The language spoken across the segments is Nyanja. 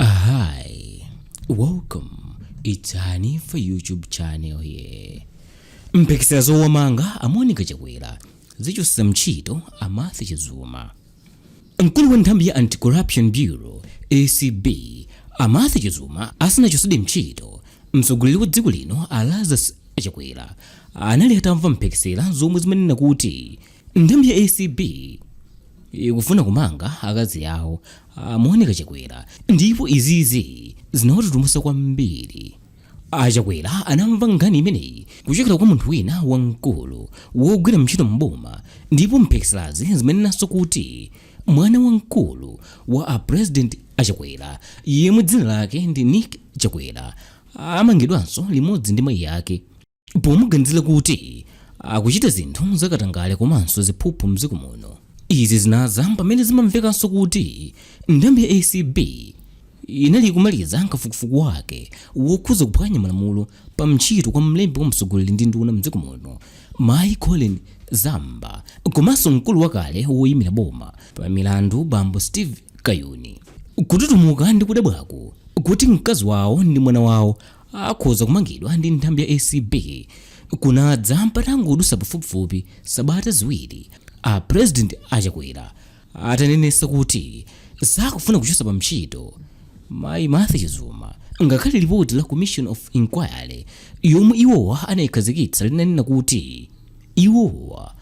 Hi, welcome. It's Hanifa YouTube channel here. Mphekesera zowamanga a Monica Chakwera zichotsetsa mchito a Martha Chizuma. Mkulu wa nthambi ya Anti-Corruption Bureau ACB a Martha Chizuma asanachotsedwe mchito mtsogoleri wa dziko lino a Lazarus Chakwera anali atamva mphekesera zomwe zimanena kuti Nthambi ya acb ikufuna kumanga akazi awo a monica chakwera ndipo izizi zinawatutumutsa kwambiri achakwera anamva nkhani imeneyi kuchokera kwa munthu wina wamkulu wogwira ntchito mboma ndipo mphekeserazi zimanenanso kuti mwana wamkulu wa a president achakwera yemwe dzina lake ndi nick chakwera amangidwanso limodzi ndi mayi ake pomuganizira kuti akuchita zinthu zakatangale komanso ziphuphu mdziko muno izi zinadza pamene zimamvekanso kuti nthambi ya acb inali kumaliza kafukufuku wake wokhuza kuphwanya malamulo pa mchito kwa mlembi wa mtsogoleri ndi nduna mdziko muno mayi colleen zamba komanso mkulu wakale woyimira boma pa milandu bambo steve kayuni kututumuka ndi kudabwako kuti mkazi wawo ndi mwana wawo akhoza kumangidwa ndi nthambi ya acb kunadza patangodutsa pafupifupi sabata ziwiri a president achakwera atanenesa kuti sakufuna kuchosa pa mchito mayi martha chizuma ngakhale lipoti la commission of inquiry yomwe iwowa anayikhazikitsa linanena kuti iwowa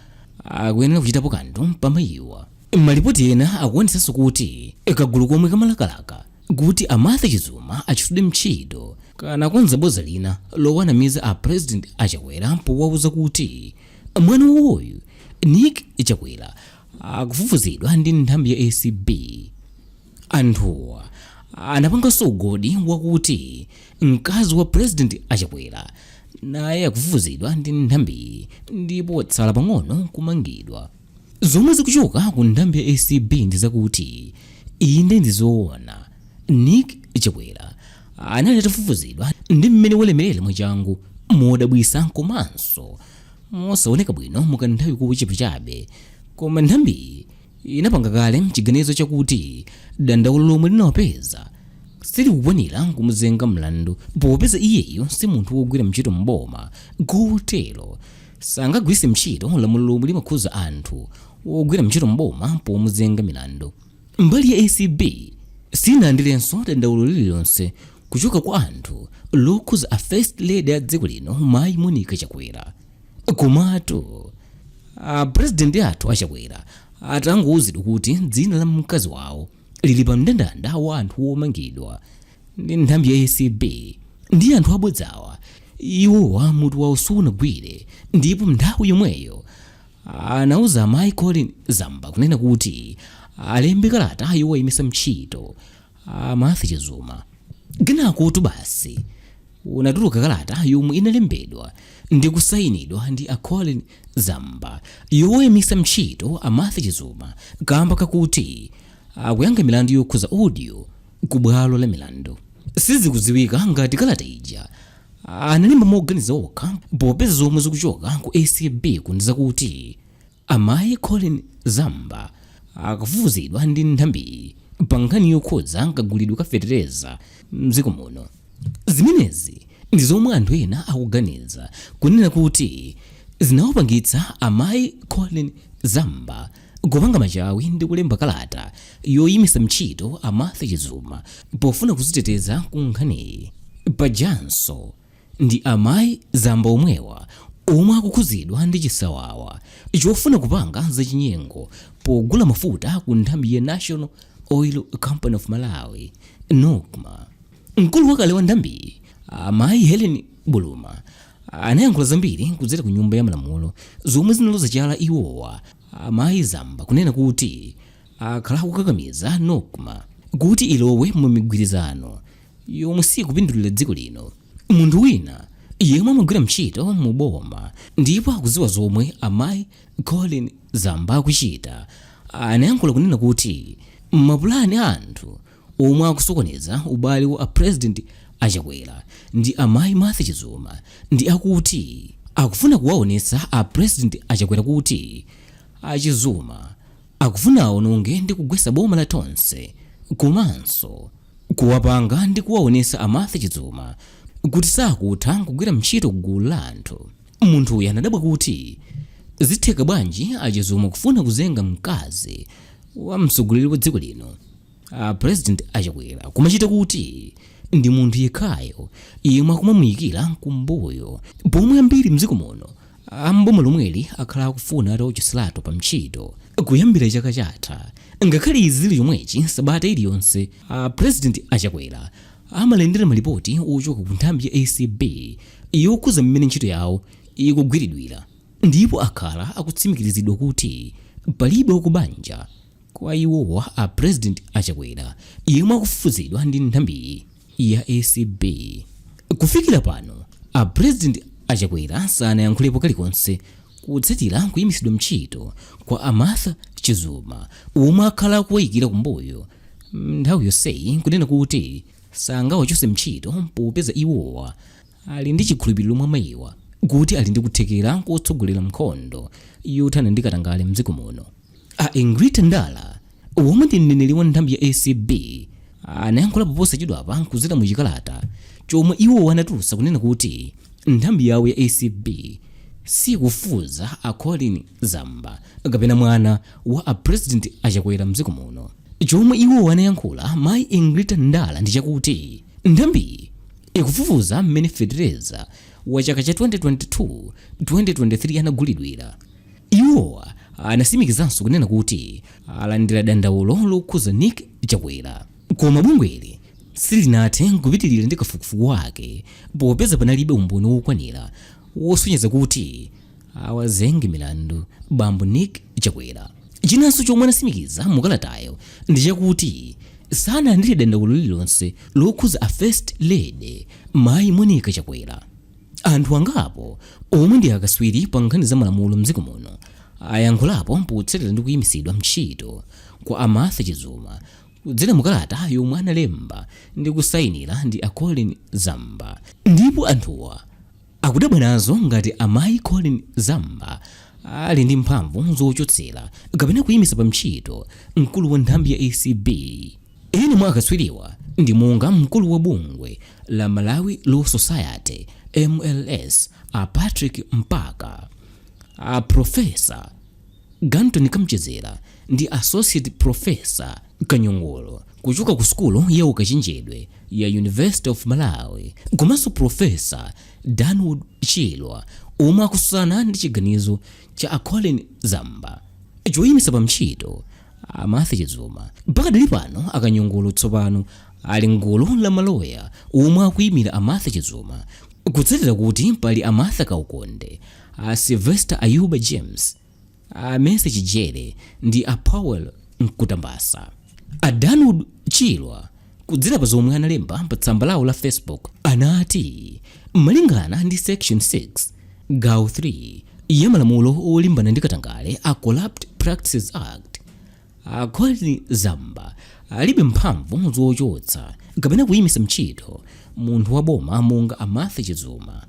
akuyenera kuchitapo kanthu pamayiwa malipoti ena akuonesanso kuti kagulu komwe kamalakalaka kuti a Martha Chizuma achotsedwe mtchito kanakonza boza lina lowanamiza a president a Chakwera powauza kuti mwana wawoyu Nick Chakwera akufufuzidwa ndi nthambi ya ACB. Anthuwa anapanganso ugodi wakuti mkazi wa president a Chakwera naye akufufuzidwa ndi nthambiyi ndipo watsala pang'ono kumangidwa. Zomwe zikuchoka ku nthambi ya acb ndi zakuti, inde ndi zoona Nick Chakwera anali atafufuzidwa ndi mmene walemerera mwachangu, modabwitsa komanso mosaoneka bwino mu kanthawi kochepa chabe, koma nthambiyi inapanga kale chiganizo chakuti dandaulo lomwe linawapeza silikukwanira kumuzenga mlandu popeza iyeyu si munthu wogwira ntchito m'boma kotero, sangagwiritse ntchito lamulo lomwe limakhudza anthu ogwira ntchito m'boma pomuzenga milandu nthambi ya acb sinalandirenso dandaulo lililonse kuchoka kwa anthu lokhudza a first lady a dziko lino mayi monica chakwera komatu a president athu a chakwera atangouzidwa kuti dzina la mkazi wawo lili pa mndandanda wa anthu womangidwa ndi nthambi ya acb ndi anthu abodzawa, iwowa mutu wawo sunagwire ndipo nthawi yomweyo anauza amayi Collen Zamba kunena kuti alembe kalata yowayimisa mtchito a Martha Chizuma kenakotu basi kunatuluka kalata yomwe inalembedwa ndi kusayinidwa ndi a Collen Zamba yoyimisa mtchito a Martha Chizuma kamba kakuti akuyankha milandu yokhuza audio ku bwalo la milandu sizikudziwika ngati kalata ija analemba moganiza okha popeza zomwe zikuchoka ku acb-ku ndi zakuti Amayi Collen Zamba akufufuzidwa ndi nthambiyi pa nkhani yokhudza kagulidwe ka fetereza m'dziko muno. Zimenezi ndi zomwe anthu ena akuganiza kunena kuti zinawapangitsa amayi Collen Zamba kupanga machawi ndi kulemba kalata yoyimitsa mtchito a Martha Chizuma pofuna kuziteteza ku nkhaniyi. Pajanso Ndi amai Zamba omwewa omwe akukhuzidwa ndi chisawawa chofuna kupanga zachinyengo pogula mafuta ku nthambi ya National Oil Company of Malawi, Nocma. Mkulu wakale wa nthambiyi, amai Hellen Buluma, anayankhula zambiri kudzera ku nyumba ya malamulo zomwe zinaloza chala iwowa, amai Zamba, kunena kuti akhala akukakamiza Nocma kuti ilowe mu migwirizano yomwe sikupindulira dziko lino munthu wina yemwe amagwira ntchito mu boma ndipo akudziwa zomwe amayi Collen Zamba akuchita anayankhula kunena kuti mapulani a anthu omwe akusokoneza ubale wa a president a Chakwera ndi amayi Martha Chizuma ndi akuti akufuna kuwaonetsa a president a Chakwera kuti a Chizuma Akufuna awononge ndi kugwesa boma la Tonse komanso kuwapanga ndi kuwaonesa a Martha Chizuma kuti sakutha nkugwira mtchito ku gulu la anthu. Munthuyi anadabwa kuti zitheka bwanji a Chizuma kufuna kuzenga mkazi wa mtsogoleri wa dziko lino a President a Chakwera pamachita kuti ndi munthu yekhayo yemwe akumamuyikira kumbuyo pomwe ambiri mdziko muno A m'boma lomweli akhala akufuna atawachotseratu pa ntchito kuyambira chaka chatha. Ngakhale izi zili chomwechi, sabata iliyonse a President a Chakwera amalandira malipoti ochoka ku nthambi ya acb yokhuza mmene ntchito yawo ikugwiridwira ndipo akhala akutsimikiziridwa kuti palibe wa ku banja kwa iwowa a President a Chakwera yemwe akufufuzidwa ndi nthambiyi. ya acb kufikira pano a president achakwera sanayankhulepo kalikonse kutsatira kuyimitsidwa mchito kwa amartha chizuma omwe akhala akuwayikira kumbuyo nthawi yonseyi kunena kuti sangawachose mchito popeza iwowa ali ndi chikhulupiriro mwa mayiwa kuti ali ndi kuthekera kotsogolera nkhondo yothana ndi katangale mdziko muno A Ingrid Ndala, omwe ndi mneneri wa nthambi ya acb, anayankhulapo posachedwapa kudzera mu chikalata chomwe iwo anatulutsa kunena kuti nthambi yawo ya acb sikufufuza a Colleen Zamba mwana wa a President a Chakwera mdziko muno. Chomwe iwo anayankhula mayi Ingrid Ndala ndi chakuti nthambiyi ikufufuza mmene fetereza wa chaka cha 2022-2023 anagulidwira. Iwo anasimikizanso kunena kuti alandira dandaulo lokhuza Nick W koma bungweli silinathe kupitilira ndi kafukufuku wake popeza panalibe umboni wokwanira wosonyeza kuti awazenge milandu bambo Nick W. Chinanso chomwe anasimikiza mu kalatayo ndi chakuti sanalandire dandaulo lililonse lokhuza a First Lady mayi Monica Chakwera. anthu angapo omwe ndi akaswiri pa nkhani za malamulo mdziko muno ayankhulapo potsatira ndi kuyimitsidwa ntchito kwa a martha chizuma kudzera mukalata yomwe analemba ndi kusayinira ndi a colin zamba ndipo anthuwa akudabwa nazo ngati amayi colin zamba ali ndi mphamvu zochotsera kapena kuyimitsa pa ntchito mkulu wa nthambi ya acb ena mwa akaswiriwa ndi monga mkulu wa bungwe la Malawi Law Society, MLS, a Patrick Mpaka, a Profesa Garton Kamchedzera ndi Associate Profesa Kanyongolo kuchoka ku sukulu ya ukachenjede ya University of Malawi komanso Profesa Danwood Chirwa omwe akususana ndi chiganizo cha a Colin Zamba choyimisa pa ntchito a Martha Chizuma pakadali pano akanyongolo tsopano ali m'gulu la maloya omwe akuimira a Martha Chizuma kutsatira kuti pali a Martha Kaukonde, a Sylvester Ayuba James, a Mercy Chijere ndi a Powell Nkhutabasa. A Danwood Chirwa kudzera pa zomwe analemba pa tsamba lawo la Facebook anati malingana ndi section 6 gawo 3 ya malamulo olimbana ndi katangale a Corrupt Practices Act a colin zamba alibe mphamvu zochotsa kapena kuyimitsa ntchito munthu wa boma monga amartha chizuma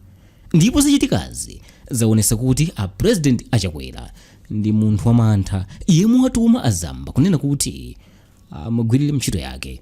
ndipo zochitikazi zaonetsa kuti a president achakwera ndi munthu wamantha yemwe watuma azamba kunena kuti amugwirire ntchito yake